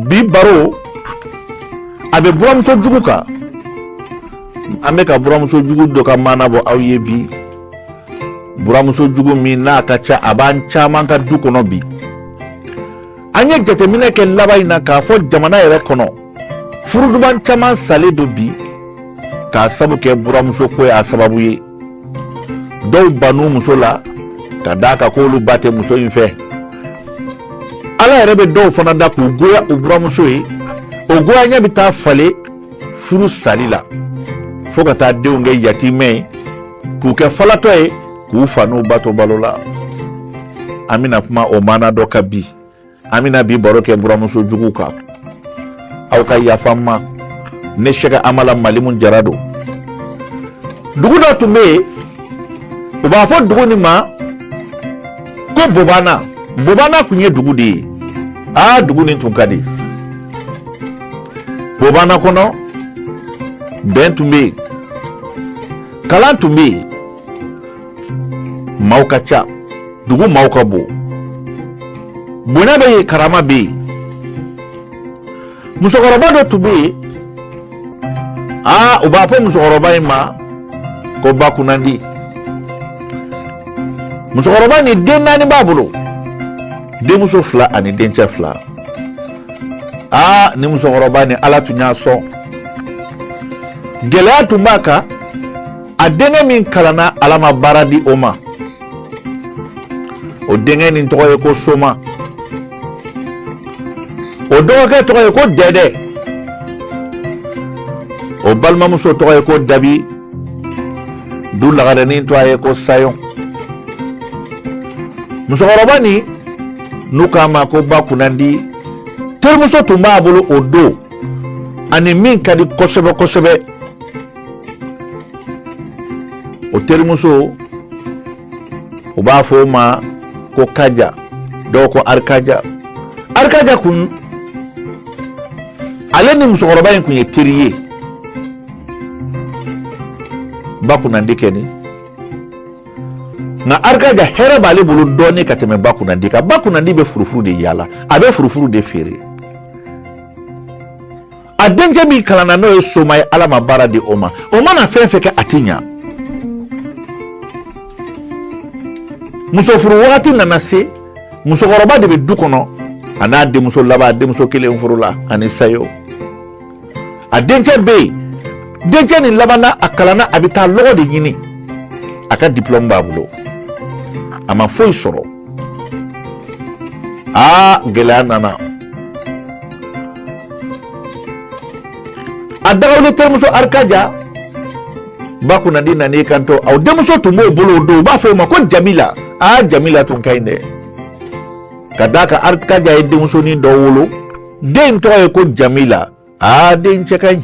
bi baro a bɛ buramuso jugu kan an bɛ ka buramuso jugu dɔ ka maana bɔ aw ye bi buramuso jugu min n'a ka ca a b'an caman ka du kɔnɔ bi an ye jateminɛ kɛ laban in na k'a fɔ jamana yɛrɛ kɔnɔ furuduban caman salen don bi k'a sabu kɛ buramuso ko y'a sababu ye dɔw ban u muso la ka d'a kan k'olu ba tɛ muso in fɛ ala yɛrɛ bɛ dɔw fana da k'u goya u buramuso ye o goya ɲɛ bɛ taa falen furu sali la fo ka taa denw kɛ yatimɛ ye k'u kɛ falatɔ ye k'u fa n'u ba to balo la an bɛna kuma o maana dɔ kan bi an bɛna bi baro kɛ buramuso jugu kan aw ka yafa n ma ne sɛki amala malimu jara don dugu dɔ tun bɛ yen u b'a fɔ dugu nin ma ko bobana bobana tun ye dugu de ye aa dugu nin tun ka di bobana kɔnɔ bɛn tun bɛ yen kalan tun bɛ yen maaw ka ca dugu maaw ka bon bonya bɛ yen karama bɛ yen musokɔrɔba dɔ tun bɛ yen aa u b'a fɔ musokɔrɔba in ma ko ba kunnandi musokɔrɔba nin den naani b'a bolo denmuso fila ani dencɛ fila aa ni musokɔrɔba nin ala tun y'a sɔn gɛlɛya tun b'a kan a denkɛ min kalanna ala ma baara di o ma o denkɛ nin tɔgɔ ye ko soma o dɔgɔkɛ tɔgɔ ye ko dɛdɛ o balimamuso tɔgɔ ye ko dabi du lagarɛnin tɔgɔ ye ko sayɔn musokɔrɔba nin n'u k'a ma ko ba kunnandi terimuso tun b'a bolo o don a ni min ka di kosɛbɛ kosɛbɛ o terimuso u b'a fɔ o ma ko kaja dɔw ko arikaja arikaja kun ale ni musokɔrɔba in kun ye teri ye ba kunnandi kɛ ni nka arikaja hɛrɛ b'ale bolo dɔɔnin ka tɛmɛ ba kunnandi kan ba kunnandi bɛ furufuru de yaala a bɛ furufuru de feere a dencɛ min kalanna n'o ye soma ye ala ma baara di o ma o mana fɛn fɛn kɛ a ti ɲa muso furu wagati nana se musokɔrɔba de bɛ du kɔnɔ a n'a denmuso laban denmuso kelen furula ani sayɔn a dencɛ bɛ yen dencɛ nin labanna a kalanna a bɛ taa lɔgɔ de ɲini a ka diplɔmu b'a bolo a ma foyi sɔrɔ aa gɛlɛya nana a dagawuli terimuso arikaja ba kunnandi nan'i kanto aa denmuso tun b'o bolo o don u b'a fɔ o ma ko jamila aa jamila tun ka ɲi dɛ ka d'a kan arikaja ye denmusonin dɔ wolo den tɔgɔ ye ko jamila aa den cɛ ka ɲi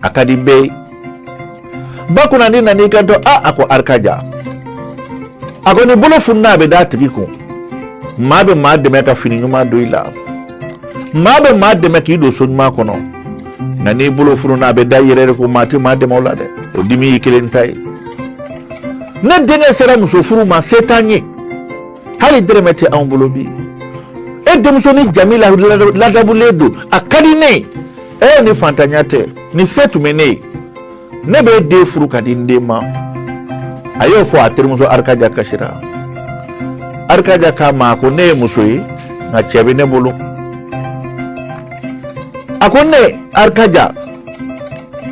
a ka di bɛɛ ye ba kunnandi nana i kanto a a ko arikaja a ko ni bolo fununa a bɛ d'a tigi kun maa bɛ maa dɛmɛ ka fini ɲuman don i la maa bɛ maa dɛmɛ k'i don so ɲuman kɔnɔ nka n'i bolo fununa a bɛ da i yɛrɛ de kun maa tɛ maa dɛmɛ o la dɛ o dimi y'i kelen ta ye ne denkɛ sera muso furu ma se t'an ye hali dɛrɛmɛ tɛ anw bolo bi e denmusonin jamila ladamulen don a ka di ne ye e ni fantanya tɛ ni se tun bɛ ne ye ne bɛ den furu ka di n den ma a y'o fɔ a terimuso arikaja kasira arikaja k'a ma ko ne ye muso ye nka cɛ bɛ ne bolo a ko ne arikaja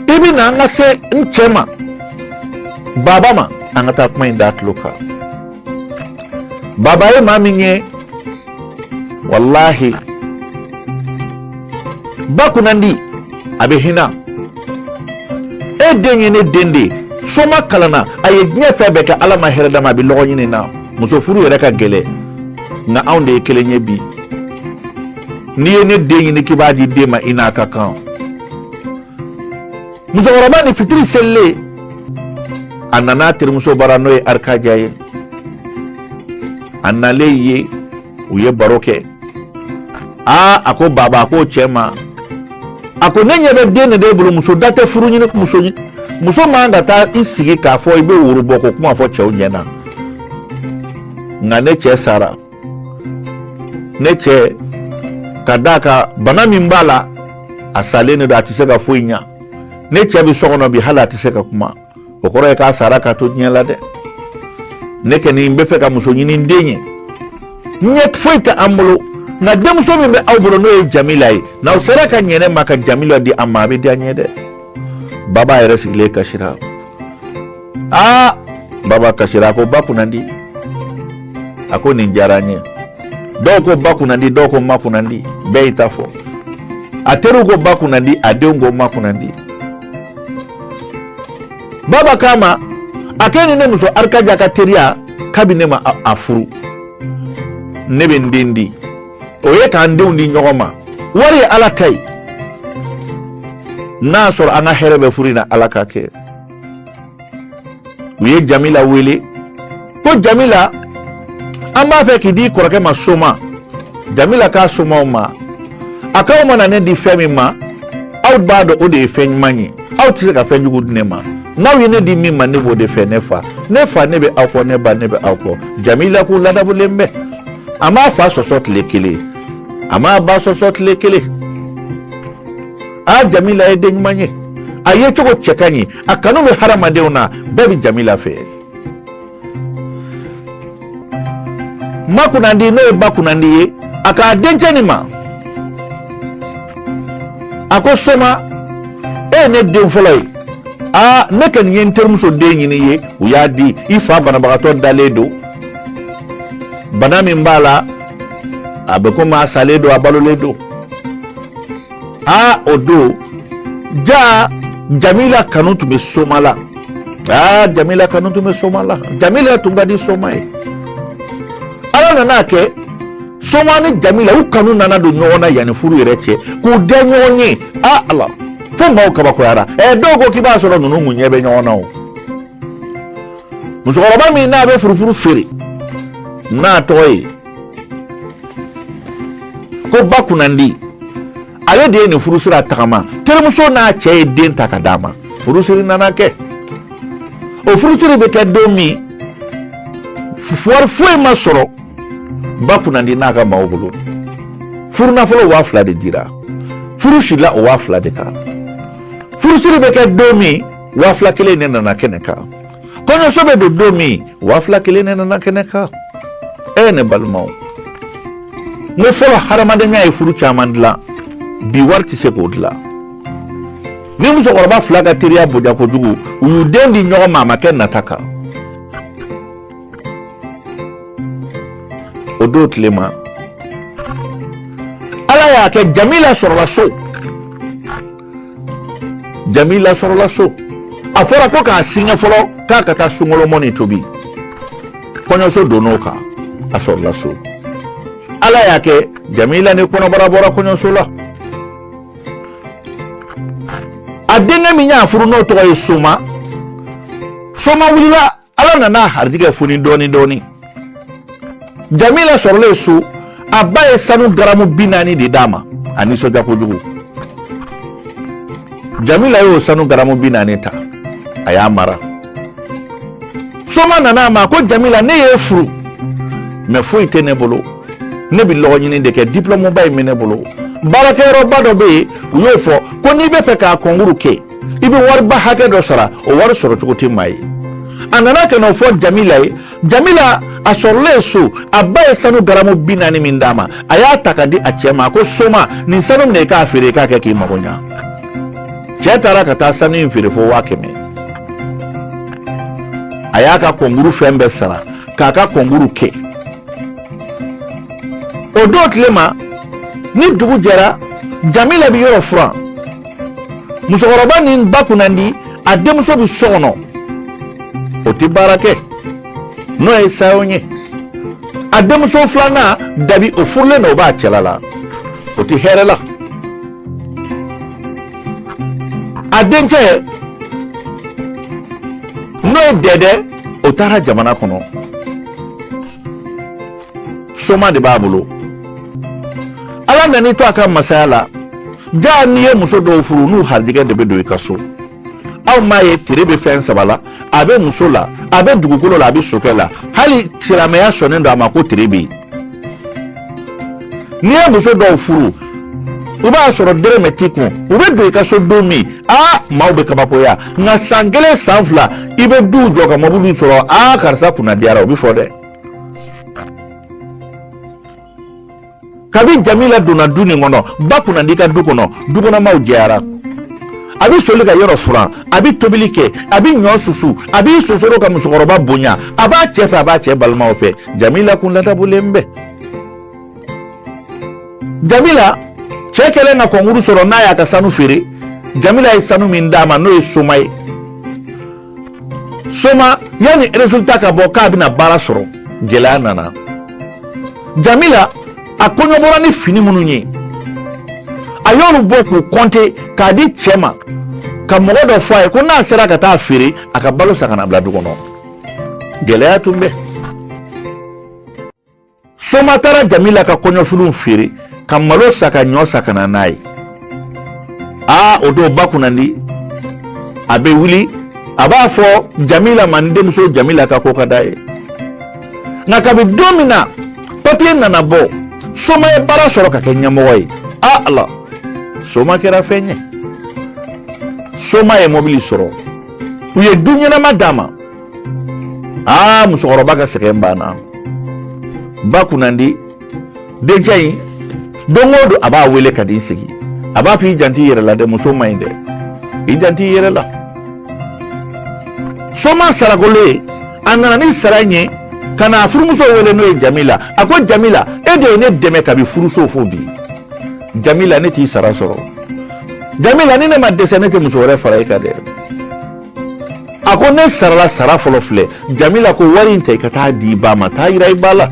i bɛ na an ka se n cɛ ma baba ma an ka taa kuma in d'a tulo kan baba ye maa min ye walahi ba kunnandi a bɛ hina e den ye ne den de soma kalanna a ye diɲɛ fɛn bɛɛ kɛ ala ma hɛrɛ d'a ma a bɛ lɔgɔɲini na muso furu yɛrɛ ka gɛlɛn nka anw de ye kelen ye bi n'i ye ne den ɲini k'i b'a d'i den ma i n'a ka kan musokɔrɔbanin fitiri selilen a nana a terimuso bara n'o ye arikaja ye a nalen ye u ye baro kɛ aa a ko baba a ko cɛ ma a ko ne ɲɛ bɛ den de b'e bolo muso da tɛ furu ɲini muso man ka taa i sigi k'a fɔ i bɛ woro bɔ ko kuma fɔ cɛw ɲɛ na nka ne cɛ sara ne cɛ ka d'a kan bana min b'a la a salen de don a tɛ se ka foyi ɲa ne cɛ bɛ so kɔnɔ bi hali a tɛ se ka kuma o kɔrɔ ye k'a sara ka to diɲɛ la dɛ ne kɛni n b'a fɛ ka muso ɲini n den ye ɲɛ foyi tɛ an bolo nka denmuso min bɛ aw bolo n'o ye jamila ye n'aw sera ka ɲɛ ne ma ka jamila di a ma a bɛ diya n ye dɛ baba yɛrɛ sigilen kasira aa baba kasira a ko ba kunnandi a ko nin diyara n ye dɔw ko ba kunnandi dɔw ko ma kunnandi bɛɛ y'i ta fɔ a teriw ko ba kunnandi a denw ko ma kunnandi baba k'a ma a k'e ni ne muso arikaja ka teriya kabi ne ma a furu ne bɛ n den di o ye k'an denw di ɲɔgɔn ma wari ye ala ta ye n'a sɔrɔ an ka hɛrɛ bɛ furu in na ala k'a kɛ u ye jamila wele ko jamila an b'a fɛ k'i di i kɔrɔkɛ ma soma jamila k'a somaw ma a k'aw mana ne di fɛn min ma aw b'a dɔn o de ye fɛn ɲuman ye aw tɛ se ka fɛn jugu di ne ma n'aw ye ne di min ma ne b'o de fɛ ne fa ne fa ne bɛ aw kɔ ne ba ne bɛ aw kɔ jamila kun ladabulen bɛ a m'a fa sɔsɔ tile kelen a m'a ba sɔsɔ tile kelen aa jamila ye den ɲuman ye a yecogo cɛ ka ɲi a kanu bɛ hadamadenw na bɛɛ bɛ jamila fɛ ma kunnandi n'o ye ba kunnandi ye a k'a dencɛ nin ma a ko soma e ye ne den fɔlɔ ye aa ne kɔni ye n terimuso den ɲini i ye u y'a di i fa banabagatɔ dalen don bana min b'a la a bɛ komi a salen don a balolen don aa o don jaa jamila kanu tun bɛ soma la aa jamila kanu tun bɛ soma la jamila tun ka di soma ye ala nana a kɛ soma ni jamila u kanu nana don ɲɔgɔn na yanni furu yɛrɛ cɛ k'u diya ɲɔgɔn ye aa ala fo maaw kabakoyara ɛ dɔw ko k'i b'a sɔrɔ ninnu kun ɲɛ bɛ ɲɔgɔn na o musokɔrɔba min n'a bɛ furufuru feere n'a tɔgɔ ye ko ba kunnandi ale de ye nin furu sira tagama terimuso n'a cɛ ye den ta ka d'a ma furusiri nana kɛ o furusiri bɛ kɛ don min wari foyi ma sɔrɔ ba kunnandi n'a ka maaw bolo furu nafolo waa fila de dira furu sirila o waa fila de kan furusiri bɛ kɛ don min waa fila kelen de nana kɛnɛ kan kɔɲɔso bɛ don don min waa fila kelen ne nana kɛnɛ kan ee ne balimaw n ko fɔlɔ hadamadenya ye furu caman dilan bi wari tɛ se k'o dilan nin musokɔrɔba fila ka teriya bonya kojugu u y'u den di ɲɔgɔn ma a ma kɛ nata kan o don tile ma ala y'a kɛ jamila sɔrɔla so jamila sɔrɔla so a fɔra ko k'a singa fɔlɔ k'a ka taa sunkalo mɔni tobi kɔɲɔso donn'o kan a sɔrɔla so ala y'a kɛ jamila ni kɔnɔbara bɔra kɔɲɔso la a denkɛ min y'a furu n'o tɔgɔ ye soma soma wulila ala nana a harijigɛ foni dɔɔni dɔɔni jamila sɔrɔlen so a ba ye sanu garamu bi naani de d'a ma a nisɔndiya kojugu jamila y'o sanu garamu bi naani ta a y'a mara soma nana a ma ko jamila ne y'e furu mɛ foyi tɛ ne bolo ne bɛ lɔgɔ ɲini de kɛ diplɔmuba in bɛ ne bolo baarakɛyɔrɔba dɔ bɛ yen u y'o fɔ ko n'i bɛ fɛ k'a kɔnkuru kɛ i bɛ wariba hakɛ dɔ sara o wari sɔrɔ cogo tɛ maa ye a nana ka na o fɔ jamila ye jamila a sɔrɔlen so a ba ye sanu garamu bi naani min d'a ma a y'a ta ka di a cɛ ma ko soma nin sanu minɛ i k'a feere i k'a kɛ k'i mago ɲa cɛ taara ka taa sanu in feere fo waa kɛmɛ a y'a ka kɔnkuru fɛn bɛɛ sara k'a ka kɔnkuru kɛ o don tilema ni dugu jɛra jamila bɛ yɔrɔ furan musokɔrɔba nin ba kunnandi a denmuso bɛ so kɔnɔ o tɛ baara kɛ n'o ye sayo ye a denmuso filanan dabi o furulen don o b'a cɛla la o tɛ hɛrɛ la a dencɛ n'o ye dɛdɛ o taara jamana kɔnɔ soma de b'a bolo ala nan'i to a ka masaya la jaa n'i ye muso dɔw furu n'u harijɛgɛ de bɛ don i ka so aw m'a ye tere bɛ fɛn saba la a bɛ muso la a bɛ dugukolo la a bɛ sokɛ la hali silamɛya sɔnnen don a ma ko tere bɛ yen n'i ye muso dɔw furu u b'a sɔrɔ dɛrɛmɛ t'i kun u bɛ don i ka so don min aa maaw bɛ kabakoya nka san kelen san fila i bɛ duw jɔ ka mɔbiliw sɔrɔ aa karisa kunna diyara o bɛ fɔ dɛ kabi jamila donna du nin kɔnɔ ba kunnandi ka du kɔnɔ dukɔnɔmaw jɛyara a bɛ soli ka yɔrɔ furan a bɛ tobili kɛ a bɛ ɲɔ susu a bɛ sonsoro ka musokɔrɔba bonya a b'a cɛ fɛ a b'a cɛ balimaw fɛ jamila kun ladabulen bɛ jamila cɛ kɛlen ka kɔnkuru sɔrɔ n'a y'a ka sanu feere jamila ye sanu min d'a ma n'o ye soma ye soma yanni résultat ka bɔ k'a bɛna baara sɔrɔ gɛlɛya nana jamila a kɔɲɔ bɔra ni fini minnu ye a y'olu bɔ k'u kɔnte k'a di cɛ ma ka mɔgɔ dɔ fɔ a ye ko n'a sera ka taa feere a ka balo san ka na bila du kɔnɔ gɛlɛya tun bɛ soma taara jamila ka kɔɲɔfiniw feere ka malo san ka ɲɔ san ka na n'a ye aa o don ba kunnandi a bɛ wuli a b'a fɔ jamila ma n denmuso jamila ka ko ka d'a ye nka kabi don min na papiye nana bɔ soma ye baara sɔrɔ ka kɛ ɲɛmɔgɔ ye a ala soma kɛra fɛn ye soma ye mɔbili sɔrɔ u ye du ɲɛnama d'a ma aa musokɔrɔba ka sɛgɛn banna ba kunnandi dencɛ in don o don a b'a wele ka di sigi a b'a fɔ i janti i yɛrɛ la dɛ muso man ɲi dɛ i janti i yɛrɛ la soma sarakolo ye a nana ni sara in ye ka n'a furumuso wele n'o ye jamila a ko jamila e de ye ne dɛmɛ kabi furuso fo bi jamila ne t'i sara sɔrɔ jamila ni ne ma dɛsɛ ne tɛ muso wɛrɛ fara i kan dɛ a ko ne sarala sara fɔlɔ filɛ jamila ko wari in ta i ka taa di i ba ma taa yira i ba la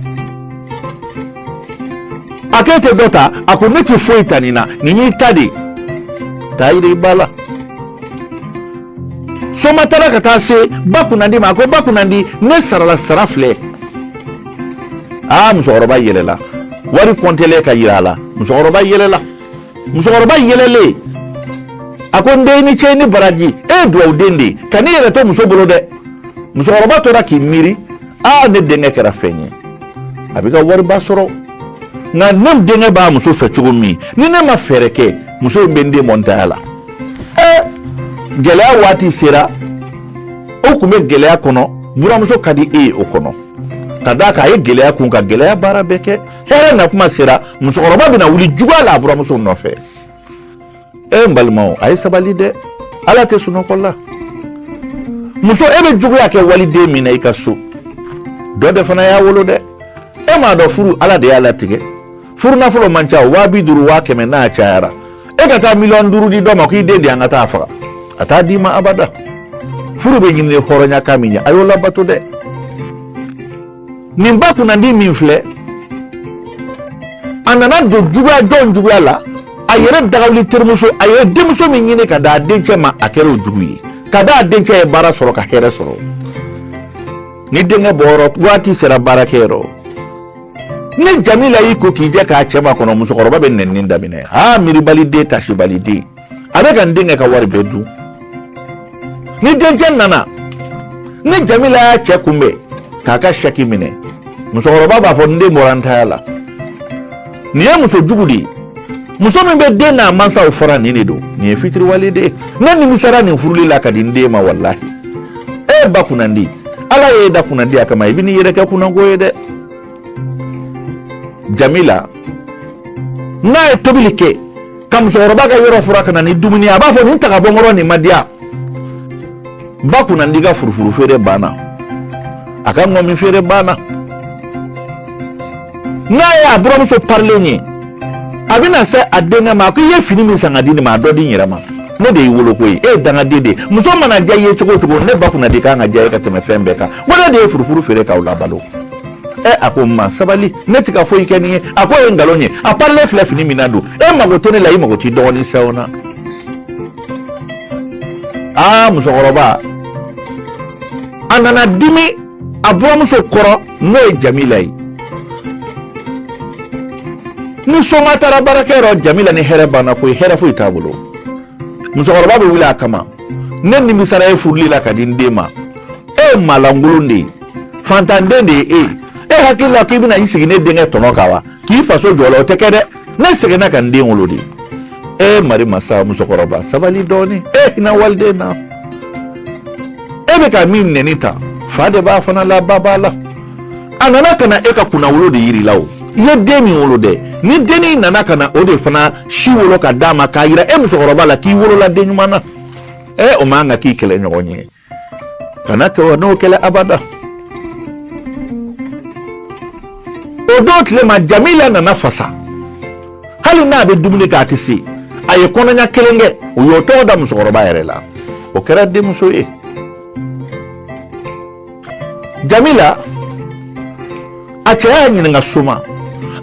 a k'e tɛ dɔ ta a ko ne tɛ foyi ta nin na nin y'i ta de taa yira i ba la soma taara ka taa se ba kunnandi ma a ko ba kunnandi ne sarala sara filɛ aa musokɔrɔba yɛlɛla wari kɔntelen ka yira a la musokɔrɔba yɛlɛla musokɔrɔba yɛlɛlen a ko n den i ni ce i ni baraji e ye duwawu den de ye kan'i yɛrɛ to muso bolo dɛ musokɔrɔba tora k'i miiri aa ne denkɛ kɛra fɛn ye a bɛ ka wariba sɔrɔ nka ne denkɛ b'a muso fɛ cogo min ni ne ma fɛɛrɛ kɛ muso in bɛ n den bɔ n taya la ɛ gɛlɛya waati sera o tun bɛ gɛlɛya kɔnɔ buramuso ka di e ye o kɔnɔ ka d'a kan a ye gɛlɛya kun ka gɛlɛya baara bɛɛ kɛ hɛrɛ na kuma sera musokɔrɔba bɛna wuli juguya la a buramuso nɔfɛ e n balimaw a ye sabali dɛ ala tɛ sunɔgɔ la muso e bɛ juguya kɛ waliden min na i ka so dɔ de fana y'a wolo dɛ e m'a dɔn furu ala de y'a latigɛ furu nafolo man ca waa bi duuru waa kɛmɛ n'a cayara e ka taa miliyɔn duuru di dɔ ma k'i den di an ka taa faga a t'a d'i ma abada furu bɛ ɲini hɔrɔnya kan min ye a y'o labato dɛ nin ba kunnandi min filɛ a nana don juguya jɔn juguya la a yɛrɛ dagawuli terimuso a ye denmuso min ɲini ka d'a dencɛ ma a kɛra o jugu ye ka da a dencɛ ye baara sɔrɔ ka hɛrɛ sɔrɔ ni denkɛ bɔyɔrɔ waati sera baarakɛyɔrɔ ni jamila y'i ko k'i jɛ k'a cɛ makɔnɔ musokɔrɔba bɛ nɛni daminɛ aa miiribaliden tasibaliden a bɛ ka n denkɛ ka wari bɛɛ dun ni dencɛ nana ni jamila y'a cɛ kunbɛn k'a ka sɛki minɛ musokɔrɔba b'a fɔ n den bɔra n taya la nin ye muso jugu de ye muso min bɛ den n'a mansaw fara nin de don nin ye fitiriwale de ye ne nimisara nin furuli la ka di n den ma walahi e ba kunnandi ala y'e da kunnandiya kama i bɛ n'i yɛrɛ kɛ kunnanko ye dɛ jamila n'a ye tobili kɛ ka musokɔrɔba ka yɔrɔ furan ka na ni dumuni ye a b'a fɔ nin ta ka bɔ n kɔrɔ nin ma diya ba kunnandi ka furufuru feere banna a ka ŋɔmi feere banna n'a ye a buramuso parilen ye a bɛna se a denkɛ ma a ko i ye fini min san ka di nin ma a dɔ di n yɛrɛ ma ne de y'i wolo koyi e ye dangaden de ye muso mana diya i ye cogo o cogo ne ba kunnandi kan ka diya i ye ka tɛmɛ fɛn bɛɛ kan wa ne de ye furufuru feere k'aw labalo ɛ a ko ma sabali ne ti ka foyi kɛ nin ye a k'o ye nkalon ye a parilen filɛ fini min na don e mago tɛ ne la i mago t'i dɔgɔnin sɛw na aa musokɔrɔba a nana dimi a buramuso kɔrɔ n'o ye jamila ye ni soma taara baarakɛyɔrɔ jamila ni hɛrɛ banna koyi hɛrɛ foyi t'a bolo musokɔrɔba bɛ wuli a kama ne nimisara e furuli la ka di n den ma e ye maalankolon de ye fantanden de ye e ye e hakili la k'i bɛna i sigi ne denkɛ tɔnɔ kan wa k'i faso jɔ la o tɛ kɛ dɛ ne seginna ka n den wolo de e mari masa musokɔrɔba sabali dɔɔnin e hinɛ waliden na e bɛ ka min nɛni tan fa de b'a fana la ba b'a la a nana ka na e ka kunnawolo de yira i la o i ye den min wolo dɛ ni dennin nana ka na o de fana si wolo ka d'a ma k'a yira e musokɔrɔba la k'i wolola den ɲuman na ɛ o man kan ka k'i kɛlɛɲɔgɔn ye kana kɛ wa n'o kɛla abada o don tile ma jamila nana fasa hali n'a bɛ dumuni kɛ a tɛ se a ye kɔnɔɲa kelen kɛ u y'o tɔgɔ da musokɔrɔba yɛrɛ la o kɛra denmuso ye jamila a cɛ y'a ɲininka suma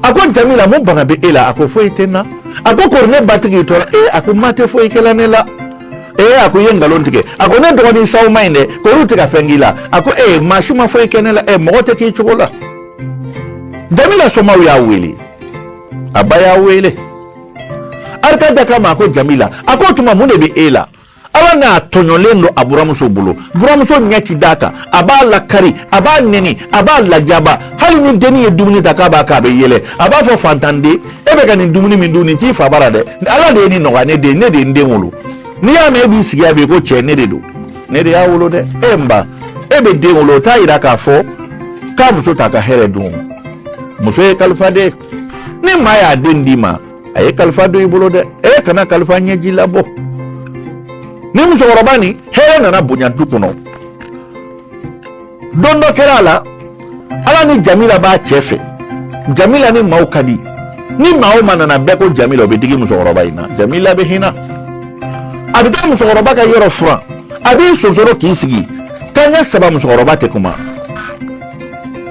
a ko jamila mun bana bɛ e la a ko foyi tɛ n na a ko kori ne ba ti k'i tɔɔrɔ ee a ko ma tɛ foyi kɛla ne la ee a ko i ye nkalon tigɛ a ko ne dɔgɔnin saw man ɲi dɛ kori u tɛ ka fɛn k'i la a ko ee maa si ma foyi kɛ ne la ee mɔgɔ tɛ k'i cogo la jamila somaw y'a wele a ba y'a wele arikada k'a ma a ko jamila a ko o tuma mun de bɛ e la ala n'a tɔɲɔlen don a buramuso bolo buramuso ɲɛ ti d'a kan a b'a lakari a b'a nɛni a b'a lajaba hali ni dennin ye dumuni ta k'a b'a k'a bɛ yɛlɛ a b'a fɔ fantanden e bɛ ka nin dumuni min dun nin t'i fa bara dɛ ala de ye nin nɔgɔya ne den ne de ye n den wolo n'i y'a mɛn e b'i sigi a bɛ ko cɛ ne de don ne de y'a wolo dɛ e n ba e bɛ den wolo o t'a yira k'a fɔ k'a muso t'a ka hɛrɛ dun muso ye kalifa de ni maa y'a den d'i ma a ye kalifa don i bolo dɛ e kana kalifa ɲɛji labɔ ni musokɔrɔba ni hɛrɛ nana bonya du kɔnɔ don dɔ kɛra a la ala ni jamila b'a cɛ fɛ jamila ni maaw ka di ni maa o maa nana bɛɛ ko jamila o bɛ digi musokɔrɔba in na jamila bɛ hinɛ a bɛ taa musokɔrɔba ka yɔrɔ furan a b'i sonsoro k'i sigi kanɲɛ saba musokɔrɔba tɛ kuma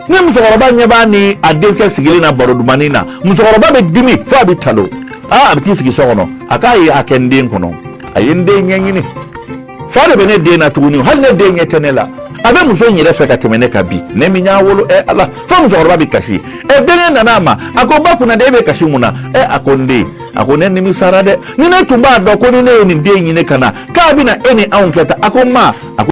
ni musokɔrɔba ɲɛ b'a ni a denkɛ sigilen na baro dumani na musokɔrɔba bɛ dimi fo a bɛ talon aa a bɛ t'i sigi so kɔnɔ a k'a ye a kɛ n den kɔnɔ a ye n den ɲɛɲini fa de bɛ ne den na tuguni hali ne den ɲɛ tɛ ne la a bɛ muso in yɛrɛ fɛ ka tɛmɛ ne kan bi ne min y'a wolo ɛ ala fo musokɔrɔba bɛ kasi ɛ denkɛ nana a ma a ko ba kunnandi e bɛ kasi mun na ɛ a ko n den a ko ne nimisara dɛ ni ne tun b'a dɔn ko ni ne ye nin den ɲini ka na k'a bɛna e ni anw kɛ tan a ko ma a ko